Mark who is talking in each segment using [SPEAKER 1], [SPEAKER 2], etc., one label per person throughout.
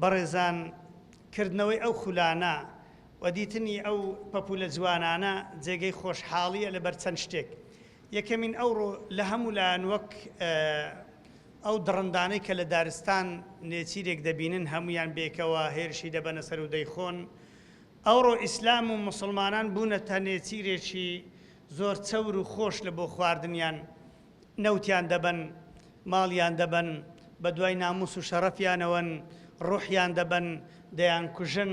[SPEAKER 1] بەڕێزان کردنەوەی ئەو خولانە و دیتنی ئەو پەپولە جوانانە جێگەی خۆشحاڵیە لەبەر چەند شتێک، یەکەمین ئەوڕۆ لە هەموو لایەن وەک ئەو دڕندانەی کە لە دارستان نێچیرێک دەبینن هەموویان بێکەوە هێرشی دەبەنە سەر و دەیخۆن، ئەوڕۆ ئیسلام و موسڵمانان بوونەتە نێچیرێکی زۆر چەور و خۆش لە بۆ خواردنیان، نەوتیان دەبەن، ماڵیان دەبەن، بە دوای ناموس و شەڕەفیانەوەن، ڕوحیان دەبەن، دەیانکوژن،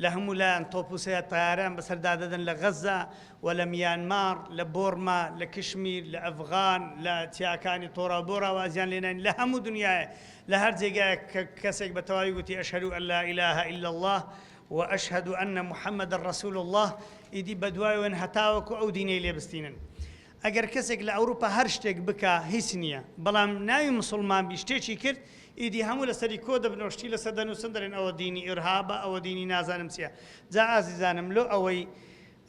[SPEAKER 1] لە هەموو لایان تۆپ و سەیاد تەیارەیان بەسەردا دەدەن لە غەززە و لە میانماڕ، لە بۆڕما، لە کشمیر، لە ئەفغان، لە چیاکانی تۆرا و بۆرا وازیان لێ ناین، لە هەموو دنیایێ، لە هەر جێگایێک کە کەسێک بە تەواوی گوتی اشهد ان لا اله الا اللە و اشهد ان محمدا رسول اللە ئیدی بە دوایەوەن هەتاوەکو ئەو دینەی لێ بستینن. ئەگەر کەسێک لە ئەوروپا هەر شتێک بکا هیچ نیە بەڵام ناوی مسوڵمان بی شتێکی کرد ئیدی هەموو لەسەری کۆ دەبن و شتی لەسەر دەنوسن دەلێن ئەوە دینی ئیرهابە ئەوە دینی نازانم چیە جا ئازیزانم لۆ ئەوەی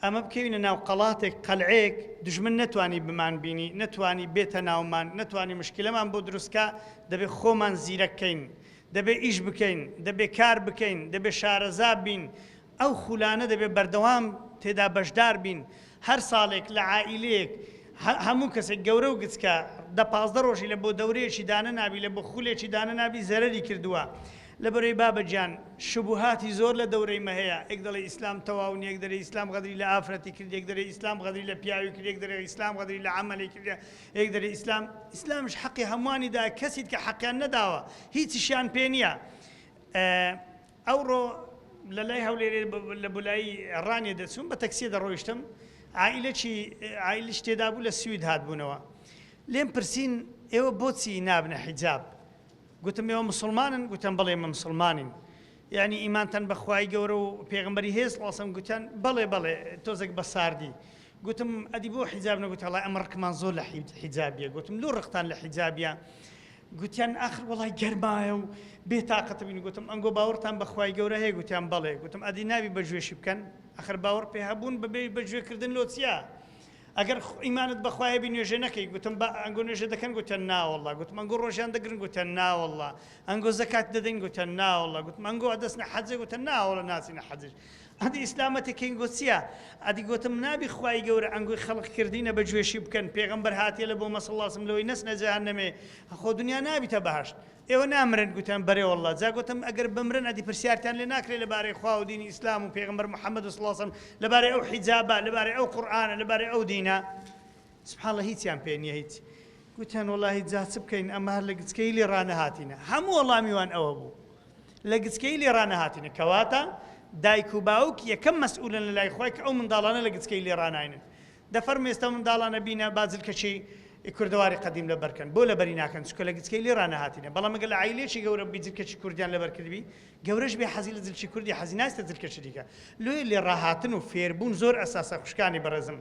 [SPEAKER 1] ئەمە بکەوینە ناو قەڵاتێک قەلعەیەک دوژمن نەتوانی بمان بینی نەتوانی بێتە ناومان نەتوانی مشکلەمان بۆ دروست کا دەبێ خۆمان زیرەک کەین دەبێ ئیش بکەین دەبێ کار بکەین دەبێ شارەزا بین ئەو خولانە دەبێت بەردەوام تێدا بەشدار بین، هەر ساڵێک لە عائیلەیەک هەموو کەسێک گەورە و گچکە دە پازدە ڕۆژی لە بۆ دەورەیەکی دانەنابی لە بۆ خولێکی دانەنابی زەرەری کردووە لەبەرەی بابە گیان شبوهاتی زۆر لە دەورەی مە هەیە ئێک دەڵێ ئیسلام تەواو نیە ئێک دەرێ ئیسلام غەدری لە ئافرەتی کرد ئێک دەرێ ئیسلام غەدری لە پیاوی کرد ئێک دەرێ ئیسلام غەدری لە عەمەلی کرد ئێک دەرێ ئیسلام ئیسلامش حەقی هەمووانی دا کەسیت کە حەقیان نەداوە هیچیشیان پێ نیە ئەوڕۆ لە لای هەولێرێ لە بولایی ڕانیە دەچووم بە تەکسیە دەڕۆیشتم عائیلەکی عائیلەش تێدابوو لە سوید هاتبوونەوە لێم پرسین ئێوە بۆچی نابنە حیجاب گوتم ئێوە مسوڵمانن گوتم بەڵێ ئێمە مسوڵمانین یعنی ئیمانتان بە خوای گەورە و پێغمبەری هێز ڵاسم گوتیان بەڵێ بەڵێ تۆزێک بە ساردی گوتم ئەدی بۆ حیجاب نەگوت هەڵای ئەمە ڕقمان زۆر لە حیجابیە گوتم لۆ ڕقتان لە حیجابیە گوتیان ئاخر وەڵای گەرمایە و بێ تاقەت بووین، گوتم ئەنگۆ باوەڕتان بە خوای گەورە هەیە؟ گوتیان بەڵێ، گوتم ئەدی نابی بە گوێشی بکەن؟ ئاخر باوەڕ پێ هەبوون بە بێ بە گوێ کردن لۆ چییە؟ ئەگەر ئیمانت بە خوا هەبی نوێژێ نەکەی؟ گوتم با ئەنگۆ نوێژێ دەکەن؟ گوتیان ناوەڵڵا، گوتم ئەنگۆ ڕۆژیان دەگرن؟ گوتیان ناوەڵڵا، ئەنگۆ زەکات دەدەین؟ گوتیان ناوەڵڵا، گوتم ئەنگۆ ئەدەچنە حەجێ؟ گوتیان ناوەڵڵا ناچینە حەجیش، ئەدی ئیسلامە تە کێنگۆ چیە ئەدی گۆتم نابی خوای گەورە ئەنگۆی خەڵق کردینە بە جوێشی بکەن پێغەمبەر هاتیە لە بۆمە سڵڵا سم لەوەی نەچنە جەهەنەمێ خۆ دنیا نابیتە بەهەشت ئێوە نامرن گوتیان بەرێ وەڵڵا جا گۆتم ئەگەر بمرن ئەدی پرسیارتان لێ ناکرێ لە بارەی خوا و دینی ئیسلام و پێغەمبەر محمد سڵڵا سم لە بارەی ئەو حیجابە لە بارەی ئەو قورئانە لە بارەی ئەو دینە سبحان اللە هیچیان پێ نیە هیچ. گوتیان وەڵاهی جا چ بکەین ئەمە هەر لە گچکەیی لێ ڕانەهاتینە. هەموو وەڵامی وان ئەوە بوو لە گچکەیی لێ ڕانەهاتینە. کەواتە دایک و باوک یەکەم مەسئولن لە لای خۆی کە ئەو منداڵانە لە گچکەیی لێ ڕاناینن. دە فەرموو ئێستا منداڵانە بینە با جلکەچی ی کوردەواری قەدیم لە بەر کەن. بۆ لە بەری ناکەن؟ چونکە لە گچکەیی لێ ڕانەهاتینە. بەڵام گەر لە عایلەیەکی گەورە ببی جلکەچی کوردیان لە بەر کردبی، گەورەش بێ حەزی لە جلکی کوردی حەزی ناستە جلکەچی دیکە. لۆیە لێ ڕاهاتن و فێر بوون زۆر ئەساسە خوشکانی بەڕێزم.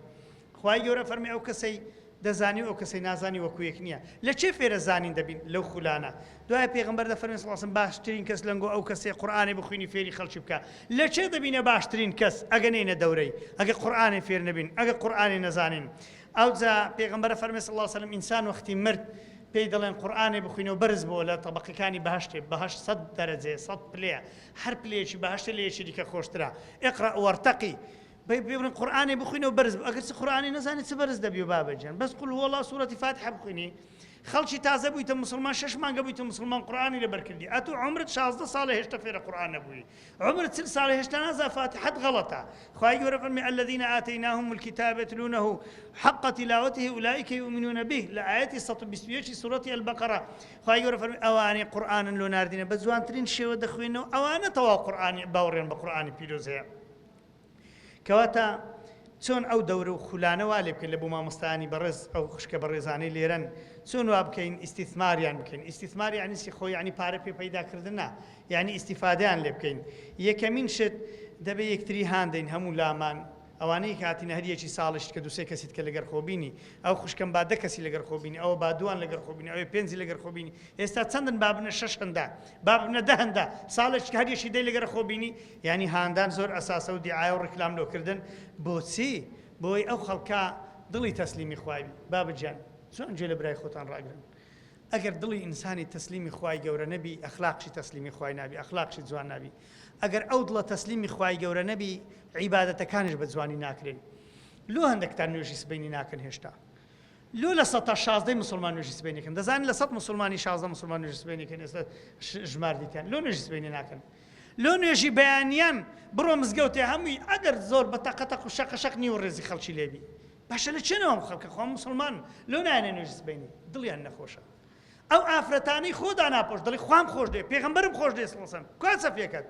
[SPEAKER 1] خوای گەورە فەرمی ئەو کەسەی دەزانی و ئەو کەسەی نازانی وەکو یەک نیە لە چێ فێرە زانین دەبین لەو خولانە دوای پێغەمبەر دەفەرمی صلی اللە علیە وسلم باشترین کەس لەنگۆ ئەو کەسەی قورئانی بخوینی فێری خەڵکی بکە لە چێ دەبینە باشترین کەس ئەگە نینە دەورەی ئەگە قورئانی فێر نەبین ئەگە قورئانی نەزانین ئەوجا پێغەمبەر فەرمی صلی اللە علیە وسلم ئینسان وەختی مرد پێی دەڵێن قورآانێ بخوینەوە بەرز بۆ لە تەبقەکانی بەهشتێ بەهش سەد دەرەجێ سەد پلەیە هەر پلەیەکی بەهشتە لەیەکی دیکە خۆشترا ئقرا وەرتەقی بەی پێ بڵێن قورئانێ بخوینەوە بەرز بوو ئەگەر چ قورئانی نەزانی چ بەرز دەبیەوە بابە گیان بەس قل هو اللە سورەتی فاتحە بخوینی خەڵکی تازە بوویتە مسلمان شەش مانگە بوویتە مسلمان قورئانی لەبەر کردی ئەتو عمرت 16 ساڵە هێشتا فێرە قورئان نەبووی عمرت چل ساڵە هێشتا نازا فاتحەت غەڵەتە خوای گەورە فەرمی الذين آتيناهم الكتاب يتلونه حق تلاوته اولئك يؤمنون به لە ئاەتی 121 سورەتی البقرە خوای گەورە فەرمی ئەوانەی قورئانن لۆ ناردینە بە جوانترین شێوە دەخوێنەوە ئەوانە تەواو قورئانی باوڕێن بە قورئانی پیرۆز هەیە کەواتە چۆن ئەو دەورە و خولانە وا لێ بکەین لە بۆ مامۆستایانی بەڕێز ئەو خوشکە بەڕێزانەی لێرەن چۆن وا بکەین ئیستیثماریان بکەین ئیستیثمار یعنی چی خۆ یعنی پارە پێ پەیدا کردن نا یعنی ئیستیفادەیان لێ بکەین یەکەمین شت دەبێ یەکتری هان دەین هەموو لامان ئەوانەی کاتینە هەر یەکی ساڵیشت کە دوسێ کەسیت کە لەگەر خۆبینی ئەو خوشکم با دە کەسی لەگەر خۆبینی ئەوە با دووان لەگەر خۆبینی ئەوێ پێنجی لەگەر خۆبینی ئێستا چەندن بابنە شەش هەندا بابنە دە هەندا ساڵێک هەر یەکی دەی لەگەر خۆبینی یانی هاندان زۆر ئەساسە و دیعایە و ڕیکلام لۆ کردن بۆچی؟ بۆوەی ئەو خەڵکە دڵی تەسلیمی خوای بی بابە جان جوان گوێ لە برای خۆتان ڕاگرن ئەگەر دڵی ئینسانی تەسلیمی خوای گەورە نەبی ئەخلاقشی تەسلیمی خوای نابی ئەخلاقشی جوان نابی ئەگەر ئەو دڵە تەسلیمی خوای گەورە نەبی عیبادەتەکانیش بە جوانی ناکرێن لۆ هەندەکتان نوێژی سبەینی ناکەن هێشتا لۆ لە سەتا شازدەی مسلمان نوێژی سبەینەکەن دەزانن لە سەد مسلمانی شازدە مسلمان نوێژی سبەینەکەن ئێستا ژمار دیکەن لۆ نوێژی سبەینی ناکەن لۆ نوێژی بەیانیان بڕۆ مزگەوتێ هەمووی ئەگەر زۆر بە تەقە تەق و شەقە شەق نیو ڕێزی خەڵکی لێ بی باشە لە چێنەوە ئەم خەڵکە خۆ موسڵمانن لۆ نایەنە نوێژی سبەینی دڵیان نەخۆشە ئەو ئافرەتانەی خۆ داناپۆش دەڵی خوام خۆش دێ پێغەمبەرم خۆش دێ سڵسەن کوا سەفیەکەت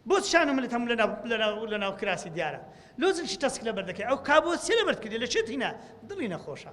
[SPEAKER 1] بۆ شان و ملت هەموو لە ناو- لە ناو- لە ناو کراسی دیارە لۆ زلکی تەسک لەبەر دەکەی ئەو کابۆسیە لەبەرد کردی لە چێت هینا دڵی نەخۆشە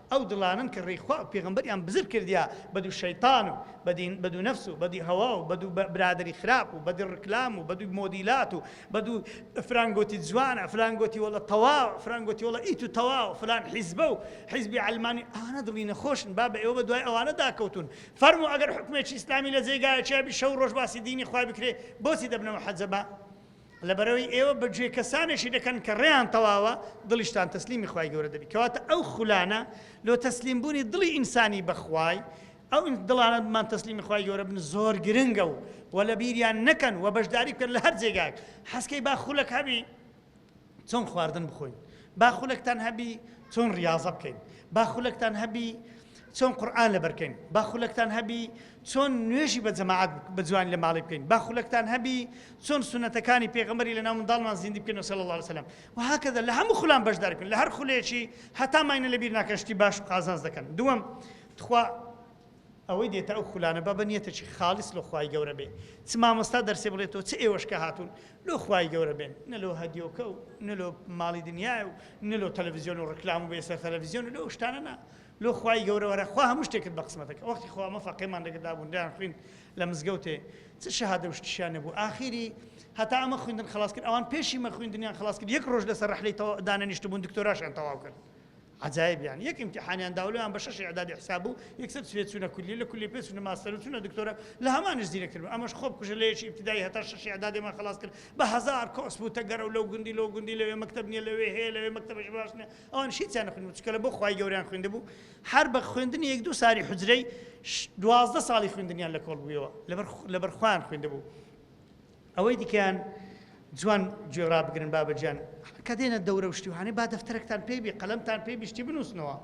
[SPEAKER 1] ئەو دڵانەن کە ڕێی خوا و پێغەمبەریان بزر کردیە بە دوو شەیتان و بە دین، بە دوو نەفس و بە دوی هەوا و بە دوو برادەری خراپ و بە دوی ڕکلام و بە دوی مۆدیلات و بە دوو فلان گۆتی جوانە فلان گۆتی وەڵە تەواوە فلان گۆتی وەڵە ئیتو تەواوە فلان حیزبە و حیزبی عەلمانی ئەوانە دڵی نەخۆشن با بە ئێوە بە دوای ئەوانە داکەوتون فەرموو ئەگەر حوکمێکی ئیسلامی لە جێگایەکیا بی شەو ڕۆژ باسی دینی خوا بکرێ بۆچی دەبنەوە حەجەبە؟ لەبەرئەوەی ئێوە بە گوێی کەسانێکی دەکەن کە ڕێیان تەواوە، دڵیشتان تەسلیمی خوای گەورە دەبی، کەواتە ئەو خولانە لۆ تەسلیم بوونی دڵی ئینسانی بە خوای، ئەو دڵانە بمان تەسلیمی خوای گەورە بن زۆر گرنگە و وە لە بیریان نەکەن وە بەشداری بکەن لە هەر جێگایەک حەزکەی با خولەک هەبی چۆن خواردن بخۆین، با خولەکتان هەبی چۆن ڕیاضە بکەین، با خولەکتان هەبی، چۆن قورئان لەبەر کەین با خولەکتان هەبی چۆن نوێژی بە جەماعەت بە جوانی لە ماڵی بکەین با خولەکتان هەبی چۆن سونەتەکانی پێغەمبەری لەناو منداڵمان زیندی بکەین صلی الله علیه وسلم و هاکذا لە هەموو خولان بەشدار بکەن لە هەر خولێکی هەتا ماینە لەبیر ناکەن شتی باش و قازانج دەکەن دووەم تخوا ئەوەی دێتە ئەو خولانە بە بەنیەتێکی خاڵیس لۆ خوای گەورە بێ چ مامۆستا دەرسێ بڵێتەوە چ ئێوەش کە هاتوون لۆ خوای گەورە بێن نە لۆ هەدیۆکە و نە لۆ ماڵی دنیای و نە لۆ تەلەڤیزیۆن و ڕکلام و بێسەر تەلەڤیزیۆن و لەو شتانە نا لۆ خوای گەورە وەرە خوا هەموو شتێکت بە قسمەتە کە وەختی خۆ ئەمە فەقێمان لەگەر دابوون دەیان خوین لە مزگەوتێ چ شەهادە و شتیشیان نەبوو ئاخیری هەتا ئەمە خویندن خلاص کرد ئەوان پێشی مە خویندنیان خلاص کرد یەک ڕۆژ لەسەر ڕەحلەی تەوا دانەنیشت بوون دکتۆراشیان تەواو کرد عجایب یان یەک امتحانیان داولەیان بە شەش اعدادی حساب بوو یەکسەر سوێ چوونە کولی لە کولی پێ چوونە ماستەر و چوونە دکتۆرە لە هەمانش زیرەکتر بوو ئەمەش خۆ بکوژە لە یەکی ابتدایی هەتا شەش اعدادیمان خلاص کرد بە هەزار کۆس بوو تەگەرە و لەو گوندی لەو گوندی لەوێ مەکتەب نیە لەوێ هەیە لەوێ مەکتەبەش باش نیە ئەوانیش هیچیان نەخوێندبوو چونکە لەبۆ خوای گەورەیان خوێندبوو هەر بە خوێندنی یەک دوو ساری حجرەی دوازدە ساڵی خوێندنیان لە کۆڵ بوویەوە لەبەر خوان خوێندبوو ئەوەی دیکەیان جوان گوێڕا بگرن بابەجان کە دێنە دەورە و شتیوانەی با دەفتەرەکتان پێی بێ قەلەمتان پێی بیشتی بنووسنەوە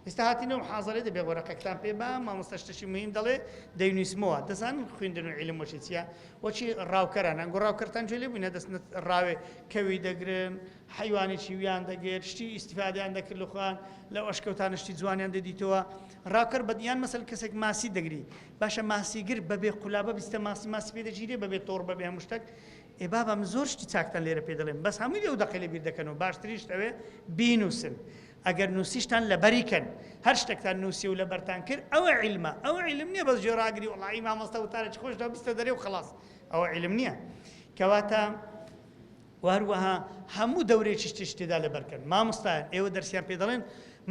[SPEAKER 1] ئێستا هاتینەوە حاضرێ دەبێ وەرەقەکتان پێ با مامۆستا شتەشی مهم دەڵێ دەینویسمەوە دەزان خوێندن و عیلم وەشی چیە وەچی ڕاوکەرانە گۆڕاوکەرتان جوێ لێ بووینە دەست ڕاوێ کەوی دەگرن حەیوانی چیویان دەگێت شتی ئیستیفادەیان دەکرد لە خۆیان لەو ئەشکەوتانە شتی جوانیان دەدیتەوە ڕاکەر بە یان مەسەل کەسێک ماسی دەگری باشە ماسیگر بەبێ قولابە بیستە ماسی ماسی پێ دەگیرێ بەبێ تۆڕ بەبێ هەموو شتێک ئێ بابا من زۆر شتی چاکتان لێرە پێ دەڵێم بەس هەمووی لەو دەقی لە بیر دەکەنەوە باشتریشت ئەوێ بینووسن ئەگەر نووسیشتان لەبەری کەن هەر شتێکتان نووسی و لەبەرتان کرد ئەوە عیلمە ئەوە عیلم نییە بەس جۆراگری وڵی مامۆستا وتارێکی خۆشدا بیستە دەرێ و خلاص ئەوە عیلم نییە کەواتە و هەروەها هەموو دەورێکیش تیشک تێدا لەبەرکەن مامۆستایان ئێوە دەرسیان پێ دەڵێن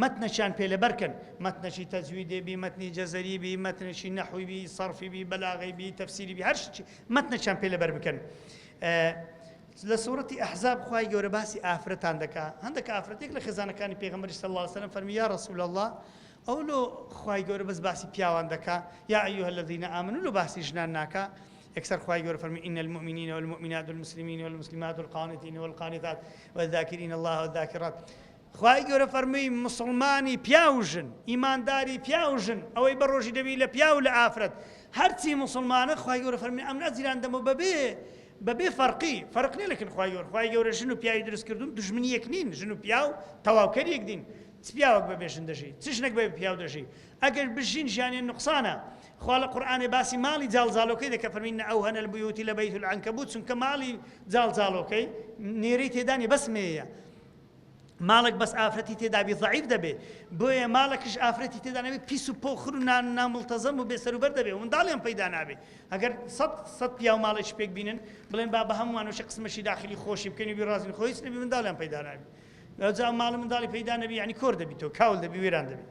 [SPEAKER 1] مەتنەکیان پێ لەبەرکەن مەتنەکی تەجویدێ بی مەتنی جەزەری بی مەتنەکی نەحوی بی سەرفی بی بەلاغەی بی تەفسیری بی هەر شتێکی مەتنەکیان پێ لەبەر بکەن لە سورەتی ئەحزاب خوای گەورە باسی ئافرەتان دەکا هەندێک ئافرەتێک لە خێزانەکانی پێغەمبەری صلی الله علیه وسلم فەرمی یا رسول الله ئەو لۆ خوای گەورە بەس باسی پیاوان دەکا یا ایها الذین آمنوا لۆ باسی ژنان ناکا یەکسەر خوای گەورە فەرمووی، ان المومنین والمومنات والمسلمین والمسلمات والقانتین والقانتات والذاکرین اللە والذاکرات خوای گەورە فەرمووی مسلمانی پیاو و ژن ئیمانداری پیاو و ژن ئەوەی بە ڕۆژی دەبی لە پیاو لە ئافرەت هەرچی مسلمانە خوای گەورە فەرمی ئەم نەجیران دەمە بەبێ بەبێ فەرقی فەرق نیە لەکن خوای گەور خوای گەورە ژن و پیاوی دروست کردون دژمنی یەک نین ژن و پیاو تەواوکەر یەک دین چ پیاوەک بەبێ ژن دەژی چ ژنەک بەبێ پیاو دەژی ئەگەر بژین ژیانیان نوقسانە خوا لە قورئانێ باسی ماڵی جاڵجاڵۆکەی دەکە فەرمی ان اوهن البیوت لبیت العنکبوت چونکە ماڵی جاڵجاڵۆکەی نێرەی تێدا نیە بەس مێیە ماڵک بەس ئافرەتی تێدابی ضعیف دەبێ بۆیە ماڵەکش ئافرەتی تێدا نەبێ پیس و پۆخر و نان نامڵتەزەم و بێسەروبەر دەبێ منداڵیان پەیدا نابێ ئەگەر سەد سەد پیا و ماڵێک پێک بینن بڵێن با بە هەمووانەشە قسمەشی داخلی خۆشی بکەین و بیڕازین خۆیس نەبی منداڵیان پەیدا نابێ جا ماڵ منداڵی پەیدا نەبی ینی کۆر دەبیتەوە کاول دەبی وێران دەبێت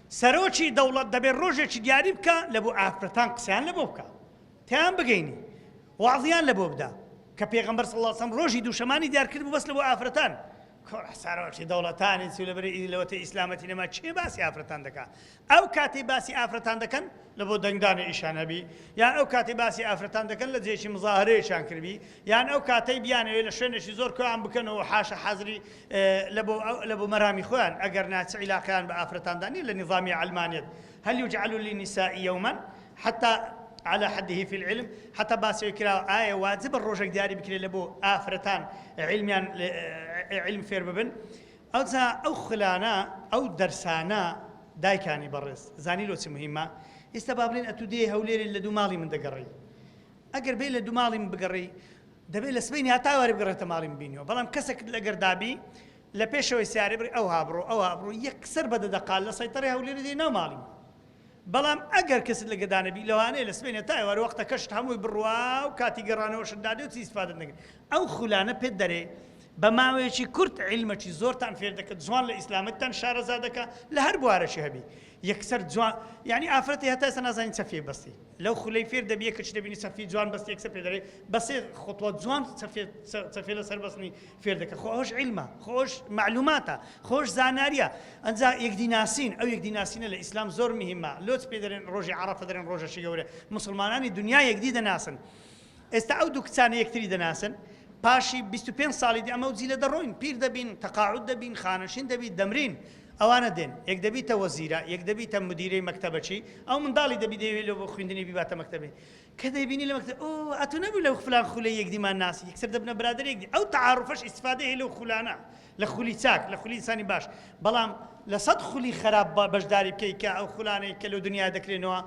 [SPEAKER 1] سەرۆکی دەوڵەت دەبێ ڕۆژێکی دیاری بکا لە بۆ ئافرەتان قسەیان لە بۆ بکا تێیان بگەینی وەعزیان لە بۆ بدا کە پێغەمبەر صلی اللە سەم ڕۆژی دووشەمانی دیار کرد بوو بەس لە بۆ ئافرەتان کۆرە سەرۆکی دەوڵەتانی چی لەبەر ئی لەوەتە ئیسلامەتی نەما کێ باسی ئافرەتان دەکا ئەو کاتەی باسی ئافرەتان دەکەن لە بۆ دەنگدانی ئیشان هەبی یان ئەو کاتی باسی ئافرەتان دەکەن لە جێکی مزاهرەیەکیان کردبی یان ئەو کاتەی بیانەوێت لە شوێنێکی زۆر کۆیان بکەنەوە حاشە حەزری لە بۆ مەرامی خۆیان، ئەگەرنا چ عیلاقەیان بە ئافرەتاندا نیە لە نیزامی عەلمانیەت، هل یجعل للنساء یوما حتی علی حده فی العلم، هەتا باس ئەوەی کراوە ئایا واجبە ڕۆژێک دیاری بکرێت لە بۆ ئافرەتان عیلمیان عیلم فێر ببن، ئەوجا ئەو خولانە ئەو دەرسانە دایکانی بەڕێز زانی لۆ چ مهیمە، ئیستا با بڵێن ئەتوو دێی هەولێرێ لە دوو ماڵی من دەگەڕێی، ئەگەر بێی لە دوو ماڵی من بگەڕێی، دەبێ لە سبەینێ هەتا ئێوارێ بگەڕێتە ماڵی مبینیەوە بەڵام کەسەکت ئەگەر دابی لە پێشەوەی سیارەی بڕی ئەوها بڕۆ ئەوها بڕۆ یەکسەر بە دەدەقە لە سەیتەڕەی هەولێرە دێی ناو ماڵی من بەڵام ئەگەر کەست لە گەدا نەبی لەوانەیە لە سبەینێ تا ئێوارێ وەختەکەشت هەمووی بڕوا و کاتی گەڕانەوەشت دادێ و چی ئیسفادەت نەکرد ئەو خولانە پێت دەرێ بە ماوەیەکی کورت عیلمەکی زۆرتان فێر دەکەن جوان لە ئیسلامتتان شارەزا دەکا لە هەر بوارەکی هەبی یەکسەر جوان یعنی ئافرەتی هەتا ئێستا نازانین چە فێی بەستی لەو خولەی فێر دەبیە کچ دەبینی سەرفی جوان بەستی یەکسەر پێ دەرێ بە سێ خطوە جوان سەرفێ سەرفێ لە سەر بەسنی فێر دەکە خۆ ئەوش عیلمە خۆش معلوماتە خۆش زاناریە ئەنجا یەکدی ناسین ئەو یەکدی ناسینە لە ئیسلام زۆر مهمە لۆچ پێ دەرێن ڕۆژی عەڕەفە دەرێن ڕۆژەشی گەورە مسلمانانی دنیا یەکدی دەناسن ئێستا ئەو دوو کچانە یەکتری دەناسن، پاشی بیست و پێنج ساڵی دی ئەمەو جیلە دەڕۆین، پیر دەبین، تەقاعود دەبین، خانەشین دەبین، دەمرین. ئەوانە دێن، یەک دەبیتە وەزیرە، یەک دەبیتە مودیرەی مەکتەبەکی، ئەو منداڵی دەبی دەیەوێ لۆ بۆ خویندنی بیباتە مەکتەبێ. کە دەیبینی لە مەکتەب، ئۆ، ئەتوو نەبووی لە فلان خولەی یەکدیمان ناسی، یەکسەر دەبنە برادەر یەکدی. ئەو تەعاروفەش ئیستفادەی هەیە لەو خولانە، لە خولی چاک، لە خولی ئینسانی باش. بەڵام لە سەد خولی خەراپ بەشداری بکەی کە ئەو خولانەی کە لەو دنیایە دەکرێنەوە،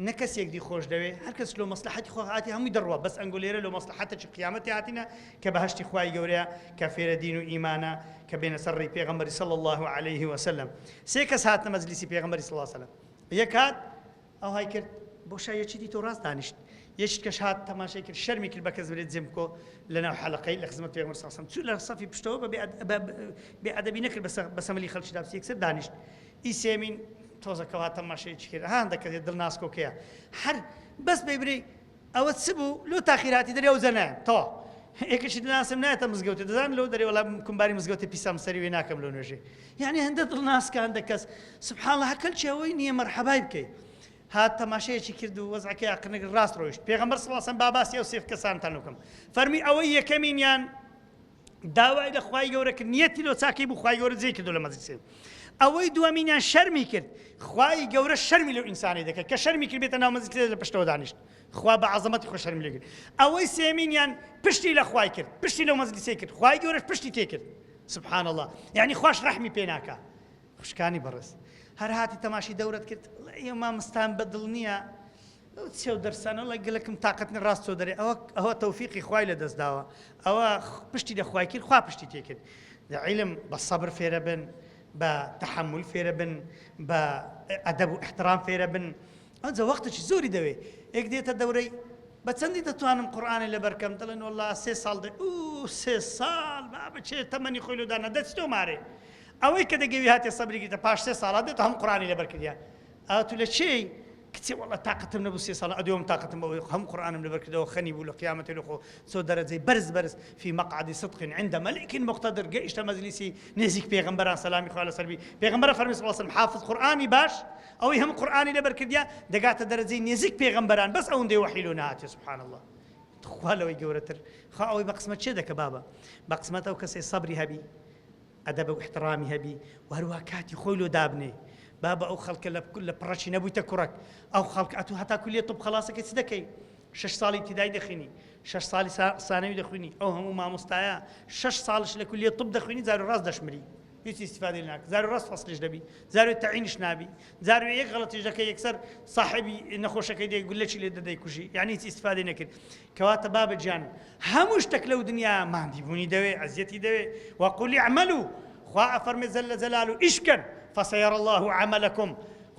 [SPEAKER 1] نە کەسیک دی خۆش دەوێ هەر کەس لۆ مەسلەحەتی خۆ هاتی هەمووی دەڕوا بەس ئەنگۆ لێرە لۆ مەسلەحەتە چی قیامەتی هاتینە کە بەهەشتی خوای گەورەیە کە فێرە دین و ئیمانە کە بێنە سەر ڕێی پێغەمبەری صلی اللە علیه و سلم سێ کەس هاتنە مەجلیسی پێغەمبەری صلی اللە علیه و سلم یەک هات ئەو های کرد بۆ شای یەکی دی تۆ ڕاست دانیشت یەشت کەش هات تەماشای کرد شەرمی کرد بە کەس برێت جێم بکۆ لەناو حەلقەی لە خزمەت پێغەمبەر صلی اللە علیه و سلم چوو لە صەفی پشتەوە بە بێ ئەدەبی نەکرد بە سەملی خەڵکی دابسی یەکسەر دانیشت ی سێمین تۆزە کەوا تەماشەیەکی کرد ها هەندە کەسێ دڵ ناسکۆکەیە هەر بەس بەی برێی ئەوە چ بوو لۆ تاخیر هاتی دەرێ ئەوجە نایەم تەوا ئێکەشی دناسم نایەتە مزگەوتێ دەزان لۆ دەرێ وەڵا کومباری مزگەوتێ پیسام سەری وێ ناکەم لۆ نوێژێ یعنی هەندە دڵ ناسکە هەندە کەس سبحان الله هەکەل چی ئەوەی نییە مەرحەبای بکەی هات تەماشەیەکی کرد و وەزعەکەی ئەقنەگر ڕاست ڕۆیشت پێغەمبەر صلی الله علیه و سلم با باسی ئەو سێف کەسانتان لۆ بکەم فەرمی ئەوەی یەکەمینیان داوای لە خوای گەورە کرد نیەتی لۆ چاکەی بوو خوای گەورە جێی کردو لە مەزی سێ ئەوەی دووەمینیان شەرمی کرد خوای گەورە شەرمی لەو ئینسانی دەکرد کە شەرمی کرد بێتە ناو مەزی سێ لە پشتەوە دانیشت خوا بە عەزەمەتی خۆ شەرمی لێ کرد ئەوەی سێمینیان پشتی لە خوای کرد پشتی لەو مەزی سێ کرد خوای گەورەش پشتی تێ کرد سبحان الله یعنی خوش ڕەحمی پێ ناکا خوشکانی بەڕێز هەر هاتی تەماشی دەورت کرد ئێمە مستان بەدڵ نییە ئەو چەو دەرسانە وەڵای گەلەکم تاقەت نیە ڕاست تۆ دەرێ ئەوە ئەوە تەوفیقی خوای لە دەست داوە ئەوە پشتی لە خوای کرد خوا پشتی تێ کرد دە عیلم بە سەبر فێرە بن بە تەحمل فێرە بن بە ئەدەب و احترام فێرە بن ئەوجە وەختێکی زۆری دەوێ یەک دێتە دەورەی بە چەندی دەتوانم قورآانە لە بەرکەم دەڵێن وڵا سێ ساڵ دە و سێ ساڵ با بچێ تەمەنی خۆی لەدا نەدەچتۆ مارێ ئەوەی کە دەگەوی هاتێ سەبرێکی دە پاش سێ ساڵات دێت هەم قورآانی لە بەرکردە ئەو تو لە چی کچێ وەڵا تاقەتم نەبوو سێ ساڵ ئەدوێم تاقەتم بەوە یەخۆ هەموو قورئانم لەبەر کردەوە خەنی بوو لە قیامەتێ لەخۆ چۆ دەرەجەی بەرز بەرز فی مقعد صدق عند ملیک مقتدر گەیشتە مەجلیسی نێزیک پێغەمبەران سەلامی خوا لەسەر بی پێغەمبەر ئەفەرمی صلی وسلم حافظ قورئانی باش ئەوەی هەموو قورئانی لەبەر کردیا دەگاتە دەرەجەی نێزیک پێغەمبەران بەس ئەوەندەی وەحی لۆ نەهاتێ سبحان الله تخوا لەوەی گەورەتر خا ئەوەی بە قسمەت چێ دەکە بابە بە قسمەت ئەو کەسێ سەبری هەبی ئەدەب و ئیحتڕامی هەبی و هەروەها کاتی خۆی لۆ دابنێی بابە ئەو خەڵکە لە لە پڕەچی نەبوویتە کوڕەک ئەو خەڵک ئەتوو هەتا کولیە طب خەڵاسەکەی چ دەکەی شەش ساڵی ابتدایی دەخوینی شەش ساڵی سانەوی دەخوینی ئەو هەموو مامۆستایە شەش ساڵش لە کولیە طب دەخوینی زارو ڕاست دەشمری هیچ استفادە لە ناکە زارو ڕاست فەسلیش دەبی زارو تعینش نابی زارو یەک غەڵەتیش دەکە یەکسەر صاحبی نەخۆشەکەی دێ گولەکی لێ دەدەی کوژی یعنی هیچ استفادەی نەکرد کەواتە بابە گیان هەموو شتەک لەو دنیا ماندی بوونی دەوێ ئەزیەتی دەوێ وەقولی عملو خوا ئەفەرمێ زەلە زەلال و ئیش بکەن فەسەیەڕ الله عملکم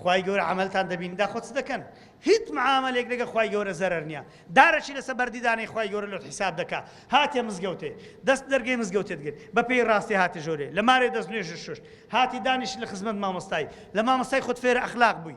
[SPEAKER 1] خوای گەورە عملتان دەبین دا خۆ چ دەکەن هیچ معاملێک لەگە خوای گەورە زەرەر نییە دارەشی لەسە بەردیدانەی خوای گەورە لۆت حیساب دەکا هاتێ مزگەوتێ دەست دەرگەی مزگەوتێت گرت بە پێی ڕاستی هاتە ژۆرێ لە مارێ دەست نوێژ شوشت هاتی دانیش لە خزمەت مامۆستای لە مامۆستای خۆت فێرە ئەخلاق بووی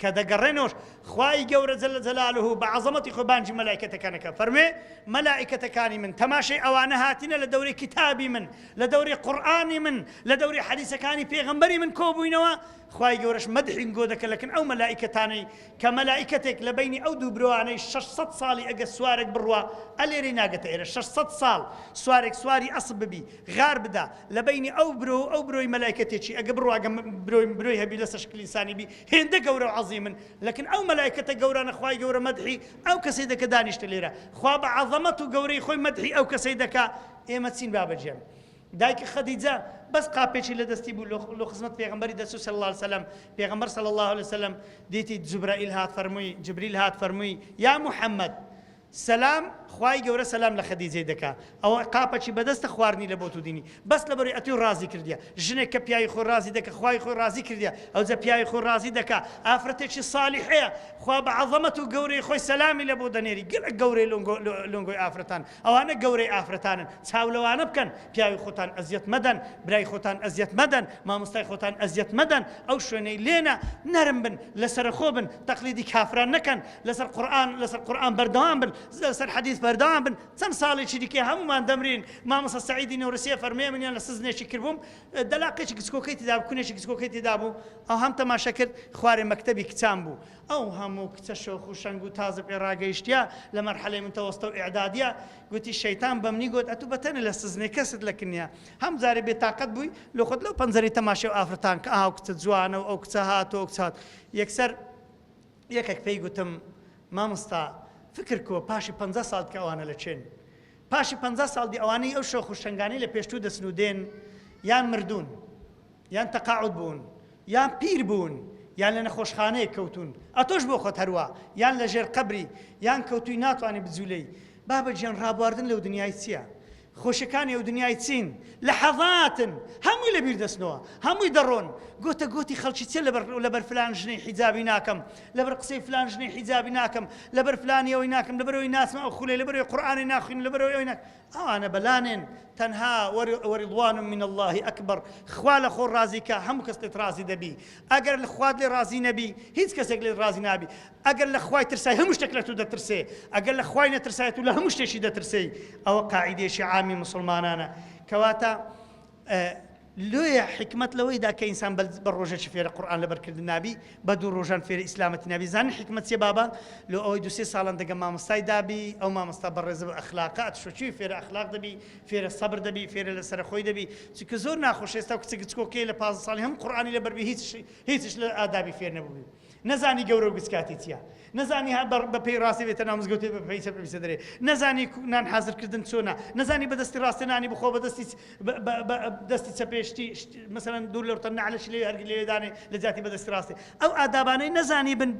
[SPEAKER 1] کە دەگەڕێنەوەش خوای گەورە جل جلالە بە عەزەمەتی خۆی بانگی مەلائیکەتەکان ئەکات فەرموێ مەلائیکەتەکانی من تەماشەی ئەوانە هاتینە لە دەورەی کیتابی من لە دەورەی قورئانی من لە دەورەی حەدیسەکانی پێغەمبەری من کۆبووینەوە خوای گەورەش مەدحین گۆ دەکە لەکن ئەو مەلائیکەتانەی کە مەلائیکەتێک لە بینی ئەو دوو برۆانەی 600 ساڵی ئەگە سوارێک بڕوا ئەلێرەی ناگەتە ئێرە 600 ساڵ سوارێک سواری ئەسب ببی غار بدا لە بینی ئەو برۆ ئەو برۆی مەلائیکەتێکی ئەگە بڕواگە برۆی برۆی هەبی لەسە شکلی سانی بی هێندە گەورەو عەزیمن لەکن ئەو مەلایکەتە گەورانە خوای گەورە مەدحی ئەو کەسەی دەکە دانیشتە لێرە خوا بە عەزەمەت و گەورەی خۆی مەدحی ئەو کەسەی دەکا ئێمە چین بابە گیان دایکی خەدیجە بەس قاپێکی لە دەستی بوو لۆ خزمەت پێغمبەری دەچوو صلی الله وسلم پێغمبەر صلی الله وسلم دیتی جبرائیل هات فەرمووی جبریل هات فەرمووی یا محمد سەلام خوای گەورە سەلام لە خەدیجەی دەکا ئەوە قاپەکی بەدەستە خواردنی لە بۆت و دینی بەس لەبەروی ئەتوی ڕازی کردیە ژنێک کە پیاوی خۆی ڕازی دەکە خوای خۆی ڕازی کردیە ئەوجە پیاوی خۆی ڕازی دەکا ئافرەتێکی صالیحەیە خوا بە عەزەمەت و گەورەی خۆی سەلامی لە بۆ دەنێری گەلەک گەورەی لۆنگۆ لۆنگۆی ئافرەتان ئەوانە گەورەی ئافرەتانن چاو لەوانە بکەن پیاوی خۆتان ئەزیەت مەدەن برای خۆتان ئەزیەت مەدەن مامۆستای خۆتان ئەزیەت مەدەن ئەو شوێنەی لێنە نەرم بن لەسەرەخۆ بن تەقلیدی کافران نەکەن لەسەر قورئان لەسەر قورئان بەردەوام بن لەسەر حەدیث بەردەوام بن چەند ساڵێکی دیکە هەموومان دەمرین مامۆستا سعیدی نەورسیە فەرموویە منیان لە سزنێکی کردبووم دەلاقێکی گچکۆکەی تدا بوو کونێکی گچکۆکەی تدا بوو ئەو هەم تەماشە کرد خوارێ مەکتەبی کچان بوو ئەو هەموو کچە شۆخ و شەنگ و تازە پێ ڕاگەیشتە لە مەرحەلەی متەوەستە و ئعدادیە گوتی شەیتان بە منی گوت ئەتوو بەتەنە لە سزنێ کەست لە کنیا هەم جارێ بێتاقەت بووی لە خۆت لەو پەنجەری تەماشە و ئافرەتان کە ئاو کچە جوانە و ئەو کچە هاتۆ کچات یەکسەر یەکەک پێی گوتم مامۆستا فکر کۆ پاشی پەنجا ساڵت کە ئەوانە لە چێن پاشی پەنجا ساڵ دی ئەوانەی ئەو شۆخ و شەنگانی لە پێشتوو دەچن و دێن یان مردوون یان تەقاعود بوون یان پیر بوون یان لە نەخۆشخانەیە کەوتون ئەتۆش بۆ خۆت هەروە یان لە ژێر قەبری یان کەوتوی ناتوانانی بجوولەی بابە گیان ڕابواردن لەو دنیای چییە خۆشەکانی ئەو دنیای چین لەحەزاتن هەمووی لەبیر دەچنەوە هەمووی دەڕۆن گۆتە گۆتی خەڵکی چیە لەبەر لەبەر فلان ژنەی حیجابی ناکەم لەبەر قسەی فلان ژنەی حیجابی ناکەم لەبەر فلانی ئەوەی ناکەم لەبەر ئەوەی ناچمە ئەو خولەی لەبەر ئەوەی قورئانی ناخوینم لەبەر ئەوەی ئەوەی ناکەم ئەوانە بەلانێن تەنها وەرضوان من الله ئەکبەر خوا لە خۆ ڕازی کە هەموو کەس لێت ڕازی دەبی ئەگەر خوات لێ ڕازی نەبی هیچ کەسێک لێت ڕازی نابی ئەگەر لە خوای ترسای هەموو شتێک لە تۆ دەترسێ، ئەگەر لە خوای نەترسای تۆ لە هەموو شتێکی دەترسێی، ئەوە قاعیدەیەکی عامی موسڵمانانە. کەواتە لۆیە حیکمەت لەوەیدا کە ئینسان بە ڕۆژەکی فێرە قورئان لەبەر کردن نابی، بە دوو ڕۆژان فێرە ئیسلامەتی نابی، زانن حیکمەت چیە بابە؟ لۆ ئەوەی دوو سێ ساڵان دەگە مامۆستای دابی، ئەو مامۆستا بەڕێزە و ئەخلاقە، ئەتشۆ چوی فێرە ئەخلاق دەبی، فێرە سەبر دەبی، فێرە لە سەرەخۆی دەبی، چونکە زۆر ناخۆشە ئێستا کچە گچکۆکەیە لە پازدە ساڵی هەموو قورئانی لەبەر بی هیچ هیچیش لە ئادابی فێر نەبووبی. نەزانی گەورەو گچ کاتی چیە نەزانی ها بە پێی ڕاستێ بێتە ناو مزگەوتێ بە پێی چەپ بێتە دەرێ نەزانی نان حازر کردن چۆنە نەزانی بە دەستی ڕاستێ نانی بخۆ بە دەستی دەستی چەپێشتی مەسەرەن دوور لەو تەن نەعلەش لێ هەرگی لێدانێ لە جاتی بە دەستی ڕاستێ ئەو ئادابانەی نەزانی بن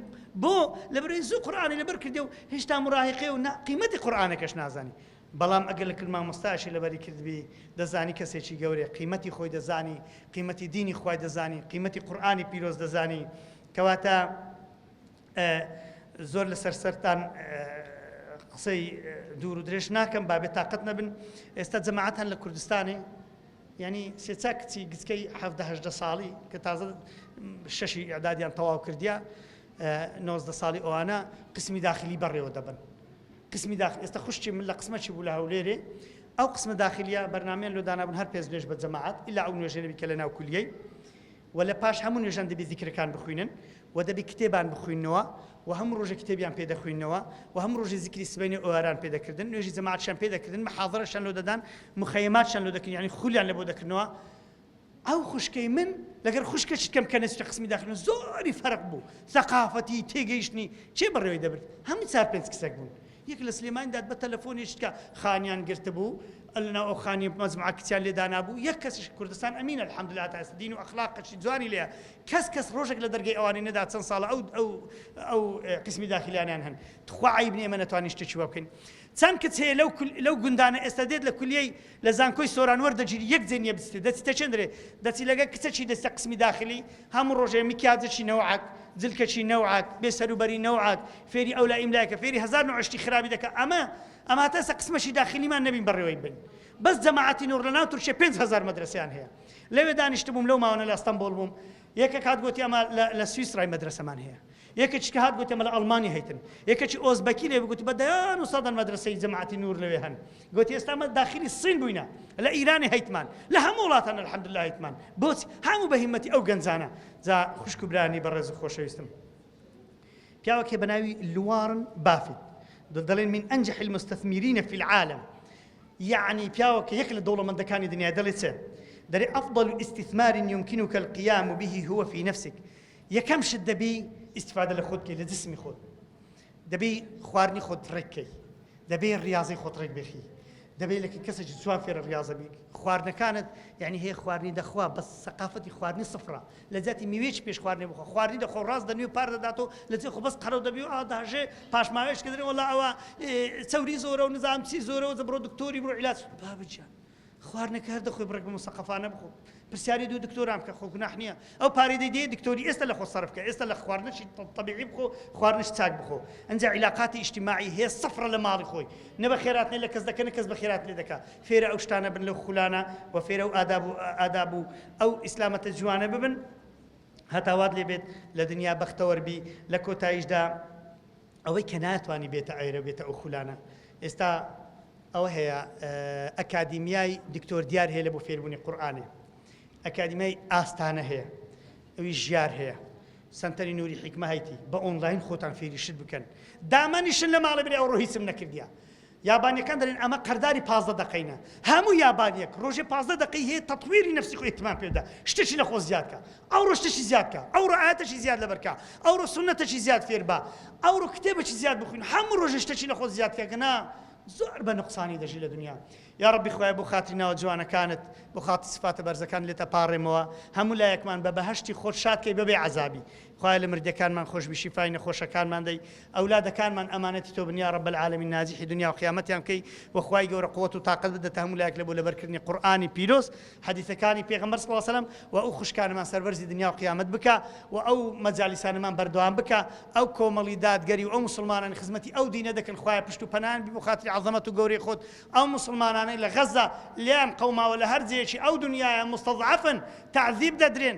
[SPEAKER 1] بۆ لە بەرەی زوو قورآانی لەبەر کردێ و هێشتا مراهقێ و قیمەتی قورآانەکەش نازانی بەڵام ئەگەر لەکل مامۆستایەشی لەبەری کردبی دەزانی کەسێکی گەورەیە قیمەتی خۆی دەزانی قیمەتی دینی خوای دەزانی قیمەتی قورئانی پیرۆز دەزانی کەواتە زۆر لەسەر سەرتان قسەی دوور و درێژ ناکەم با بێ تااقەت نەبن ئێستا جەماعات هەن لە کوردستانی ینی سێچا کچی گچکەی هەهدە ساڵی کە تازە شەشی ئەدادیان تەواو کردیا نۆزدە ساڵی ئەوانە قسمی داخلی بەڕێوە دەبن قسمی داخل ئێستا خوشکی من لە قسمەکی بوو لە هەولێرێ ئەو قسمە داخلیە بەرنامەیان لۆ دانابوون هەر پێنج نوێژ بە جەماعەت ئیلا ئەو نوێژە نەبی کە لە ناو کولیەی و لە پاش هەموو نوێژان دەبی زیکرەکان بخوینن و دەبی کتێبان بخوینەوە و هەموو ڕۆژە کتێبیان پێ دەخوینەوە و هەموو ڕۆژی زیکری سبەینێ ئۆیاران پێ دەکردن نوێژی جەماعەتشان پێ دەکردن محاضرەشان لۆ دەدان مخەیماتشان لۆ دەکردن یعنی خولیان لە بۆ دەکردنەوە ئەو خوشکەی من لەگەر خوشکەچی کەم کە نەچتە قسمی داخرن زۆری فەرق بوو سەقافەتی تێگەیشتنی چێ بەڕێوەی دەبرد هەموو چار پێنج کچەک بوون یەک لە سلێمانی داد بە تەلەفۆنی شتکە خانیان گرتبوو لەناو ئەو خانی مەزمعە کچیان لێدانابوو یەک کەسیش کوردستان ئەمینە الحمدلله تا ئێستا دین و ئەخلاق قەشی جوانی لێیە کەس کەس ڕۆژێک لە دەرگەی ئەوانی نەدا چەند ساڵە ئەو ئەو ئەو قسمی داخلیانیان هەن تخوا عیب نیە ئێمە نەتوانین شتێکی وا بکەین چەند کچ هەیە لەو لەو گوندانە ئێستا دێت لە کولیەی لە زانکۆی سۆران وەردەگیری یەک جێ نیە بچیتێ دەچی تەچێندرێ دەچی لەگە کچەکی دەستە قسمی داخلی هەموو ڕۆژێ مکیاجەکی نەوعەت جلکەکی نەوعەت بێ سەروبەری نەوعەت فێری ئەولا ئیملایکە فێری هەزار نوع عشتی خرابی دەکە ئەمە ئەمە هەتا ئێستا قسمەکی داخلیمان نەبین بەڕێوەی بن بەس جەماعەتی نوڕ لەناو تورکیە 5000 مەدرسەیان هەیە لەوێ دانیشتبووم لەو ماوانە لە ئەستەمبۆڵ بووم یەکە کات گوتی ئەمە لە سویسرای مەدرسەمان هەیە یەکە چ کە هات گۆتێ مەلا ئەڵمانی هەیتن. یەکە چ ئۆزبەکی لێ بگوت بە دەیان و سەدان مەدرەسەی جەماعەتی نوور لەوێ هەن. گۆتی ئێستا مە داخیلی سین بووینە. لە ئیرانی هەیتمان. لە هەموو وڵاتان الحمدللە هەیتمان. بۆچ هەموو بە هیمەتی ئەو گەنجانە. جا خوشک و برانی بەڕێز و خۆشەویستم. پیاوەک هەیە بە ناوی لوارن بافیت. دە دەڵێن من ئەنجح المستثمرین فی العالم. یەعنی پیاوەکە یەک لە دەوڵەمەندەکانی دنیا دەڵێ چێ؟ دەرێ افضل استثمار يمكنك القيام به هو في نفسك یەکەم شت دەبی ئیسیفادە لە خۆت کەی لە جسمی خۆت دەبی خواردنی خۆت ڕێککەی دەبێ ڕاضی خۆت ڕێک بخی دەبێت لە کەسێکی جوان فێرە ڕاضە بی خواردنەکانت یعنی هەیە خواردنی دەخوا بە سەقافەتی خواردنی سفرە لە جاتی میوێک پێش خواردنی بخۆ خواردنی دەخۆ ڕاست دەنوێ پار دەدات و لە جێ خۆ بەس قەرە دەبی و ئاداژێ پاشماوێش کردن وڵا ئەوە چەوری زۆرە و نزانام چی زۆرەوە زە بڕۆ دکتۆری بڕۆ علاج بابجان خواردنەکە هەر دەخۆی بڕێک بە موسەقەفانە بخۆ پرسیاری دوو دکتۆران بکە خۆ گوناح نییە ئەو پارەی دەیدەیە دکتۆری ئێستا لە خۆ سەرف کە ئێستا لە خواردنەشی طبیعی بخۆ خواردنش چاک بخۆ ئەنجا عیلاقاتی ئیجتیماعی هەیە سەفرە لە ماڵی خۆی نە بە خێرات لێ لە کەس دەکە نە کەس بە خێرات لێ دەکا فێرە ئەو شتانە بن لەو خولانە و فێرە و ئاداب و ئاداب و ئەو ئیسلامەتە جوانە ببن هەتاوات لێ بێت لە دنیا بەختەوەربی لە کۆتاییشدا ئەوەی کە ناتوانی بێتە عێرە و بێتە ئەو خولانە ئێستا ئەوە هەیە ئەکادیمیای دکتۆر دیار هەیە لە بۆ فێربوونی قورآانێ ئەکادیمیای ئاستانە هەیە ئەوی ژیار هەیە سنتەری نوری حیکمە هەیتی بە ئۆنلاین خۆتان فێریشت بکەن دامەنیشن لە ماڵە برێ ئەو ڕۆهیسم نەکردیا یابانیەکان دەلێن ئەمە قەرداری پازدە دەقەینە هەموو یابانیەک رۆژێ پازدە دەقەی هەیە تەتویری نەفسی خۆی ئیهتمام پێ بدە شتێکی لە خۆ زیاد کە ئەوڕۆ شتێکی زیاد کە ئەوڕۆ ئایەتێکی زیاد لەبەر کە ئەوڕۆ سوننەتێکی زیاد فێر بە ئەوڕۆ کتێبێکی زیاد بخوین هەموو رۆژێ شتێکی لە خۆت زیاد کە گەنا زۆر بە نوقسانی دەژی لە دنیا یا ربی خوای بۆ خاتری ناوە جوانەکانت بۆ خاتی سفاتە بەرزەکان لێتە پاڕێمەوە هەموو لایەکمان بە بەهەشتی خۆت شاد کەی بەبێ عەزابی خوایە لە مردەکانمان خۆشبی شیفای نەخۆشەکانمان دەی ئەولادەکانمان ئەمانەتی تۆبن یارب العالمین ناجحی دنیاو قیامەتیان بکەی وە خوای گەورە قوت و تاقەت بدەتە هەموو لایەک لە بۆ لەبەرکردنی قورئانی پیرۆز حەدیسەکانی پێغەمبەر صلی سلم وە ئەو خوشکانەمان سەربەرزی دنیاو قیامەت بکە وە ئەو مەجالیسانەمان بەردەوام بکە ئەو کۆمەڵی دادگەری و ئەو موسڵمانانی خزمەتی ئەو دینە دەکەن خوایە پشت و پەنایان بی بۆ خاتری عەزەمەت و گەورەی خۆت ئەو موسڵمانانەی لە غەزە لێیان قەوماوە لە هەر جێیەکی ئەو دنیایە موستەزعەفن تەعزیب دەدرێن